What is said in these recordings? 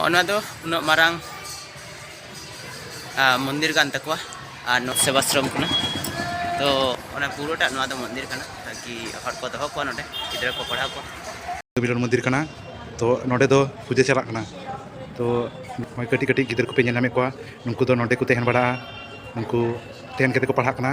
ᱚᱱᱟ ᱫᱚ ᱩᱱᱟᱹᱜ ᱢᱟᱨᱟᱝ ᱢᱚᱱᱫᱤᱨ ᱠᱟᱱ ᱛᱟᱠᱚᱣᱟ ᱟᱨ ᱱᱚᱣᱟ ᱥᱮᱵᱟᱥᱨᱚᱢ ᱠᱟᱱᱟ ᱛᱚ ᱚᱱᱟ ᱯᱩᱨᱟᱹᱴᱟᱜ ᱱᱚᱣᱟ ᱫᱚ ᱢᱚᱱᱫᱤᱨ ᱠᱟᱱᱟ ᱛᱟᱠᱤ ᱦᱚᱲ ᱠᱚ ᱫᱚᱦᱚ ᱠᱚᱣᱟ ᱱᱚᱰᱮ ᱜᱤᱫᱽᱨᱟᱹ ᱠᱚ ᱯᱟᱲᱦᱟᱣ ᱠᱚᱣᱟ ᱵᱤᱞᱚᱱ ᱢᱚᱱᱫᱤᱨ ᱠᱟᱱᱟ ᱛᱚ ᱱᱚᱰᱮ ᱫᱚ ᱯᱩᱡᱟᱹ ᱪᱟᱞᱟᱜ ᱠᱟᱱᱟ ᱛᱚ ᱱᱚᱜᱼᱚᱭ ᱠᱟᱹᱴᱤᱡ ᱠᱟᱹᱴᱤᱡ ᱜᱤᱫᱽᱨᱟᱹ ᱠᱚᱯᱮ ᱧᱮᱞ ᱧᱟᱢᱮᱫ ᱠᱚᱣᱟ ᱱᱩᱠᱩ ᱫᱚ ᱱᱚᱰᱮ ᱠᱚ ᱛᱟᱦᱮᱱ ᱵᱟᱲᱟᱜᱼᱟ ᱩᱱᱠᱩ ᱛᱟᱦᱮᱱ ᱠᱟᱛᱮ ᱠᱚ ᱯᱟᱲᱦᱟᱜ ᱠᱟᱱᱟ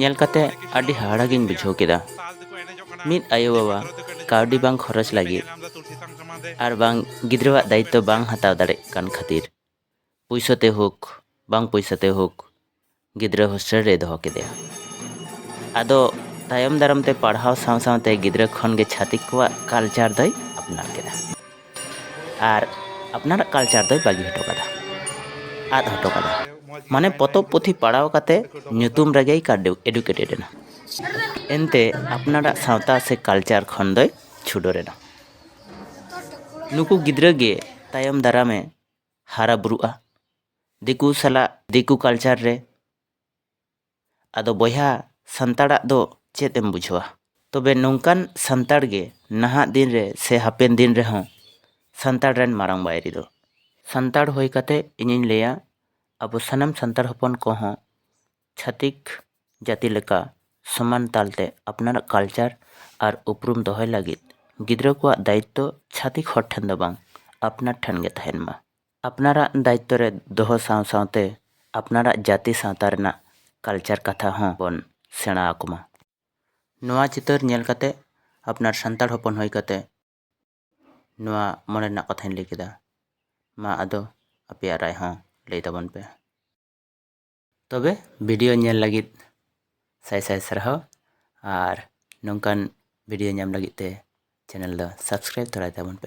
ᱧᱮᱞ ᱠᱟᱛᱮ ᱟᱹᱰᱤ ᱦᱟᱦᱟᱲᱟ ᱜᱤᱧ ᱵᱩᱡᱷᱟᱹᱣ ᱠᱮᱫᱟ ᱢᱤᱫ ᱟᱭᱳ ᱵᱟᱵᱟ ᱠᱟᱹᱣᱰᱤ ᱵᱟᱝ ᱠᱷᱚᱨᱚᱪ ᱞᱟᱹᱜᱤᱫ ᱟᱨ ᱵᱟᱝ ᱜᱤᱫᱽᱨᱟᱹᱣᱟᱜ ᱫᱟᱭᱤᱛᱛᱚ ᱵᱟᱝ ᱦᱟᱛᱟᱣ ᱫᱟᱲᱮᱜ ᱠᱟᱱ ᱠᱷᱟᱹᱛᱤᱨ ᱯᱩᱭᱥᱟᱹ ᱛᱮ ᱦᱳᱠ ᱵᱟᱝ ᱯᱩᱭᱥᱟᱹ ᱛᱮ ᱦᱳᱠ ᱜᱤᱫᱽᱨᱟᱹ ᱦᱳᱥᱴᱮᱞ ᱨᱮ ᱫᱚᱦᱚ ᱠᱮᱫᱮᱭᱟ ᱟᱫᱚ ᱛᱟᱭᱚᱢ ᱫᱟᱨᱟᱢ ᱛᱮ ᱯᱟᱲᱦᱟᱣ ᱥᱟᱶ ᱥᱟᱶᱛᱮ ᱜᱤᱫᱽᱨᱟᱹ ᱠᱷᱚᱱ ᱜᱮ ᱪᱷᱟᱹᱛᱤᱠ ᱠᱚᱣᱟᱜ ᱠᱟᱞᱪᱟᱨ ᱫᱚᱭ ᱟᱯᱱᱟᱨ ᱠᱮᱫᱟ ᱟᱨ ᱟᱯᱱᱟᱨᱟᱜ ᱠᱟᱞᱪᱟᱨ ᱫᱚᱭ ᱵᱟᱹᱜᱤ ᱦᱚᱴᱚ ᱠᱟᱫᱟ ᱟᱫ ᱦᱚᱴᱚ ᱠᱟᱫᱟ ᱢᱟᱱᱮ ᱯᱚᱛᱚᱵ ᱯᱩᱛᱷᱤ ᱯᱟᱲᱦᱟᱣ ᱠᱟᱛᱮ ᱧᱩᱛᱩᱢ ᱨᱮᱜᱮᱭ ᱮᱰᱩᱠᱮᱴᱮᱰ ᱮᱱᱟ ᱮᱱᱛᱮ ᱟᱯᱱᱟᱨᱟᱜ ᱥᱟᱶᱛᱟ ᱥᱮ ᱠᱟᱞᱪᱟᱨ ᱠᱷᱚᱱ ᱫᱚᱭ ᱪᱷᱩᱰᱟᱹᱨ ᱮᱱᱟ ᱱᱩᱠᱩ ᱜᱤᱫᱽᱨᱟᱹ ᱜᱮ ᱛᱟᱭᱚᱢ ᱫᱟᱨᱟᱢᱮ ᱦᱟᱨᱟ ᱵᱩᱨᱩᱜᱼᱟ ᱫᱤᱠᱩ ᱥᱟᱞᱟᱜ ᱫᱤᱠᱩ ᱠᱟᱞᱪᱟᱨ ᱨᱮ ᱟᱫᱚ ᱵᱚᱭᱦᱟ ᱥᱟᱱᱛᱟᱲᱟᱜ ᱫᱚ ᱪᱮᱫ ᱮᱢ ᱵᱩᱡᱷᱟᱹᱣᱟ? ᱛᱚᱵᱮ ᱱᱚᱝᱠᱟᱱ ᱥᱟᱱᱛᱟᱲ ᱜᱮ ᱱᱟᱦᱟᱜ ᱫᱤᱱ ᱨᱮ ᱥᱮ ᱦᱟᱯᱮᱱ ᱫᱤᱱ ᱨᱮᱦᱚᱸ ᱥᱟᱱᱛᱟᱲ ᱨᱮᱱ ᱢᱟᱨᱟᱝ ᱵᱟᱹᱭᱨᱤ ᱫᱚ᱾ ᱥᱟᱱᱛᱟᱲ ᱦᱩᱭ ᱠᱟᱛᱮ ᱤᱧᱤᱧ ᱞᱟᱹᱭᱟ ᱟᱵᱚ ᱥᱟᱱᱟᱢ ᱥᱟᱱᱛᱟᱲ ᱦᱚᱯᱚᱱ ᱠᱚ ᱦᱚᱸ ᱪᱷᱟᱹᱛᱤᱠ ᱡᱟᱹᱛᱤ ᱞᱮᱠᱟ ᱥᱚᱢᱟᱱ ᱛᱟᱞ ᱛᱮ ᱟᱯᱱᱟᱨᱟᱜ ᱠᱟᱞᱪᱟᱨ ᱟᱨ ᱩᱯᱨᱩᱢ ᱫᱚᱦᱚᱭ ᱞᱟᱹᱜᱤᱫ ᱜᱤᱫᱽᱨᱟᱹ ᱠᱚᱣᱟᱜ ᱫᱟᱭᱤᱛᱛᱚ ᱪᱷᱟᱹᱛᱤᱠ ᱦᱚᱲ ᱴᱷᱮᱱ ᱫᱚ ᱵᱟᱝ ᱟᱯᱱᱟᱨ ᱴᱷᱮᱱ ᱜᱮ ᱛᱟᱦᱮᱸᱱ ᱢᱟ᱾ ᱟᱯᱱᱟᱨᱟᱜ ᱫᱟᱭᱤᱛᱛᱚ ᱨᱮ ᱫᱚᱦᱚ ᱥᱟᱶ ᱥᱟᱶᱛᱮ ᱟᱯᱱᱟᱨᱟᱜ ᱡᱟᱹᱛᱤ ᱥᱟᱶᱛᱟ ᱨᱮᱱᱟᱜ ᱠᱟᱞᱪᱟᱨ ᱠᱟᱛᱷᱟ ᱦᱚᱸ ᱵᱚᱱ ᱥᱮᱬᱟ ᱟᱠᱚ ᱢᱟ᱾ ᱱᱚᱣᱟ ᱪᱤᱛᱟᱹᱨ ᱧᱮᱞ ᱠᱟᱛᱮ ᱟᱯᱱᱟᱨ ᱥᱟᱱᱛᱟᱲ ᱦᱚᱯᱚᱱ ᱦᱩᱭ ᱠᱟᱛᱮ ᱱᱚᱣᱟ ᱢᱚᱱᱮ ᱨᱮᱱᱟᱜ ᱠᱟᱛᱷᱟᱧ ᱞᱟᱹᱭ ᱠᱮᱫᱟ᱾ ᱢᱟ ᱟᱫᱚ ᱟᱯᱮᱭᱟᱜ ᱨᱟᱭ ᱦᱚᱸ ᱞᱟᱹᱭ ᱛᱟᱵᱚᱱ ᱯᱮ᱾ ᱛᱚᱵᱮ ᱵᱷᱤᱰᱤᱭᱳ ᱧᱮᱞ ᱞᱟᱹᱜᱤᱫ ᱥᱟᱭ ᱥᱟᱭ ᱥᱟᱨᱦᱟᱣ ᱟᱨ ᱱᱚᱝᱠᱟᱱ ᱵᱷᱤᱰᱤᱭᱳ ᱧᱟᱢ ᱞᱟᱹᱜᱤᱫ ᱛᱮ ᱪᱮᱱᱮᱞ ᱫᱚ ᱥᱟᱵᱥᱠᱨᱟᱭᱤᱵᱽ ᱛᱚᱨᱟᱭ ᱛᱟᱵᱚᱱ ᱯᱮ᱾